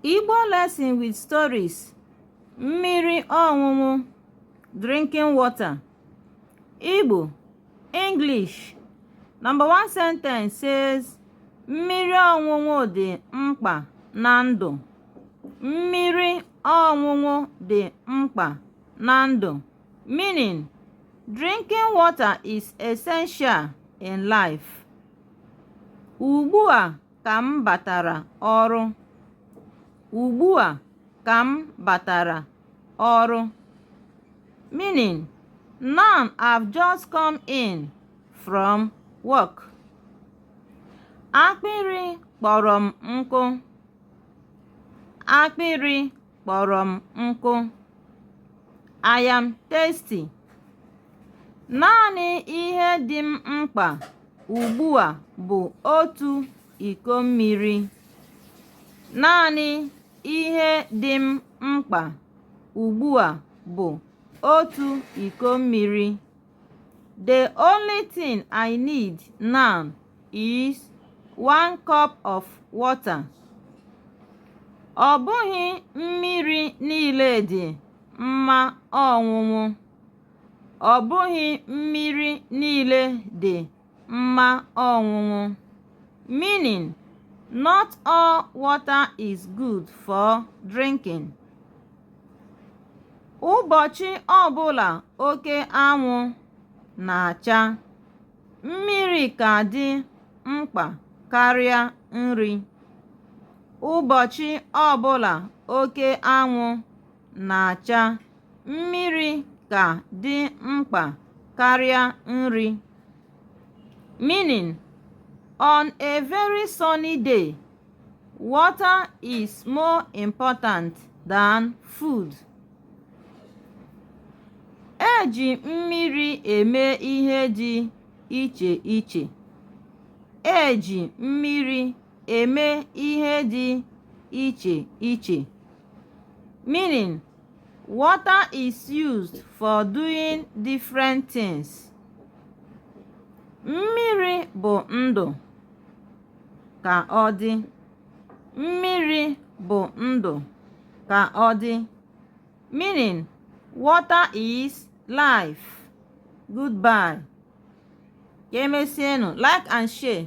Igbo lesson with stories mmiri ọṅụṅụ drinking water Igbo English number one sentence says mmiri ọṅụṅụ dị mkpa na ndụ mmiri ọṅụṅụ dị mkpa na ndụ meaning drinking water is essential in life. Ugbu a ka m batara ọrụ. Ugbu a ka m batara ọrụ. Meaning, now I've just come in from work. Akpịrị kpọrọ m nkụ. Akpịrị kpọrọ m nkụ I am thirsty naanị ihe dị m mkpa ugbu a bụ otu iko mmiri naanị ihe dị m mkpa ugbu a bụ otu iko mmiri The only thing I need now is one cup of water. Ọ bụghị mmiri niile dị mma ọṅụṅụ. Ọ bụghị mmiri niile dị mma ọṅụṅụ. Meaning, not all water is good for drinking. Ụbọchị ọbụla oke anwụ na-acha, mmiri ka dị mkpa karịa nri. Ụbọchị ọbụla oke anwụ na-acha. Mmiri ka dị mkpa karịa nri. Meaning, on a very sunny day, water is more important than food. E ji mmiri eme ihe dị iche iche. E ji mmiri eme ihe dị iche iche. meaning water is used for doing different things mmiri bụ ndụ ka ọ dị mmiri bụ ndụ ka ọ dị meaning water is life goodbye ka emesianụ like and share